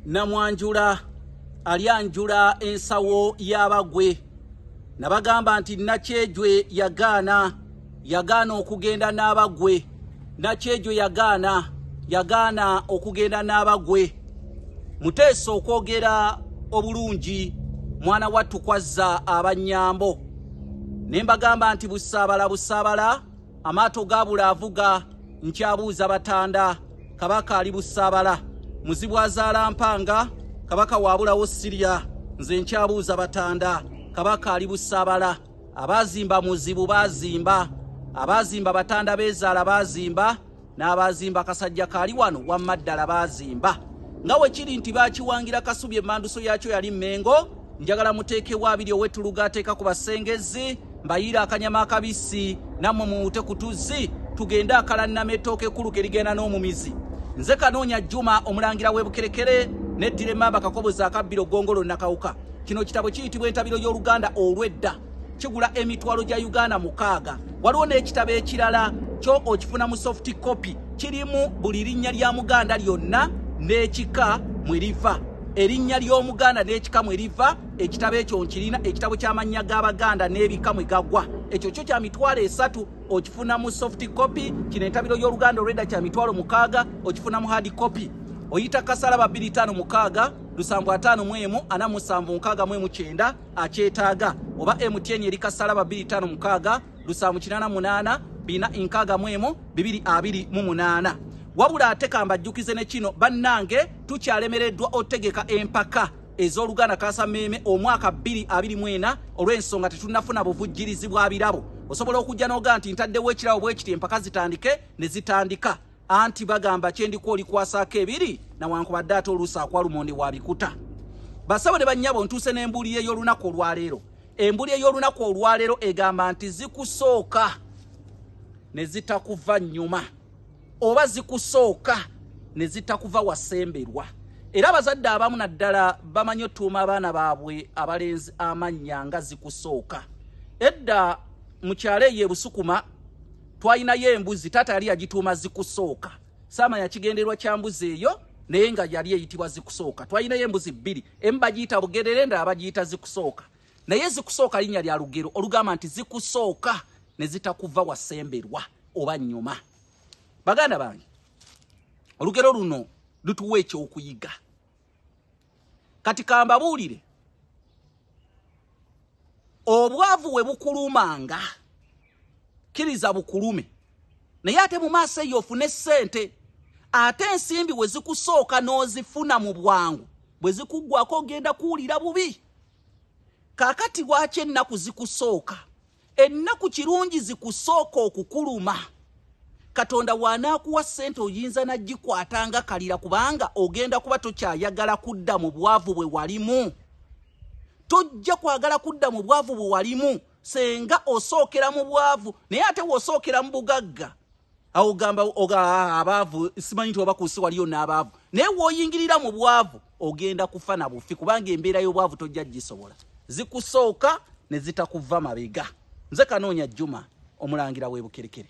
namwanjula alyanjula ensawo y'abagwe nabagamba nti nakyejwe yagaana yagaana okugenda n'abagwe nakyejwe yagaana yagaana okugenda n'abagwe muteesa okwogera obulungi mwana wattu kwazza abanyambo ne mbagamba nti busaabala busaabala amaato gaabula avuga nkyabuuza batanda kabaka ali busaabala muzibu azaala mpanga kabaka waabulawo sirya nze nkyabuuza batanda kabaka ali busaabala abaazimba muzibu baazimba abaazimba batanda beezaala baazimba n'abaazimba kasajja kaali wano wamma ddala baazimba nga we kiri nti baakiwangira kasubi emmanduso yaakyo yali mmengo njagala muteekewo abiri owetuluga ateeka ku basengezi mbayiira akanyama akabisi nammwe muwute ku tuzzi tugende akalannama ettooka ekkulu ke ligenda n'omumizi nze kanoonya juma omulangira w'ebukerekere neddira emmamba kakobozi akabbiro ggongolo nakawuka kino kitabo kiyitibwa entabiro y'oluganda olw'edda kigula emitwalo gya uganda mukaaga waliwo n'ekitabo ekirala kyo okifuna mu soft copy kirimu buli linnya lya muganda lyonna n'ekika mwe liva erinnya ly'omuganda n'ekika mwe liva ekitabo ekyo nkirina ekitabo ky'amannya g'abaganda n'ebika mwe gagwa ekyo kyo kya mitwalo esatu okifuna mu soft copy kino entabiro y'oluganda olwedda kya mitwalo mukaaga okifuna mu hard copy oyita kasalaba 25 mukaaga lusanvu ataano mu emu ana musanvu nkaaga mu emu kyenda akyetaaga oba mtn eri kasalaba 256 lusanvu kinana munana bina inkaga mwemu bibiri abiri mu munana wabula ate kambajjukize ne kino bannange tukyalemereddwa otegeka empaka ez'oluganda kasameeme omwaka 224 olw'ensonga tetunafuna buvujjirizi bwa birabo osobola okujja n'oga nti ntaddewo ekirabo bwekiti empaka zitandike ne zitandika anti bagamba kyendiko olikwasaako ebiri nawankubadde ate oluusi akwalumonde wabikuta basabo ne bannyabo ntuuse n'embuli ey'olunaku olwaleero embuli ey'olunaku olwaleero egamba nti zikusooka ne zitakuva nnyuma oba zikusooka ne zitakuva wasemberwa era abazadde abamu naddala bamanyi otuuma abaana baabwe abalenzi amannya nga zikusooka edda mu kyalo eyo ebusukuma twalinayo embuzi taata yali yagituuma zikusooka saama yakigenderwa kya mbuzi eyo naye nga yali eyitibwa zikusooka twalinayo embuzi bbiri emu bagiyita bugerere ndala bagiyita zikusooka naye zikusooka linnya lya lugero olugamba nti zikusooka ne zitakuva wasemberwa oba nnyuma baganda bange olugero luno lutuwa ekyokuyiga kati kambabuulire obwavu we bukulumanga kkiriza bukulume naye ate mu maaso eyo ofune ssente ate ensimbi we zikusooka n'ozifuna mu bwangu bwe zikuggwako ogenda kuwulira bubi kakati lwaki ennaku zikusooka Ennaku kirungi zikusooka okukuluma. Katonda w'anaakuwa ssente oyinza n'agikwata nga kalira kubanga ogenda kuba tokyayagala kudda mu bwavu bwe walimu. Tojja kwagala kudda mu bwavu bwe walimu senga osookera mu bwavu naye ate wosookera mu bugagga. awo gamba oga ah, abaavu simanyi nti obakuusi waliyo n'abaavu naye woyingirira mu bwavu ogenda kufa na bufi kubanga embeera y'obwavu tojja gisobola zikusooka ne zitakuva mabega nze kanoonya juma omulangira w'ebukerekere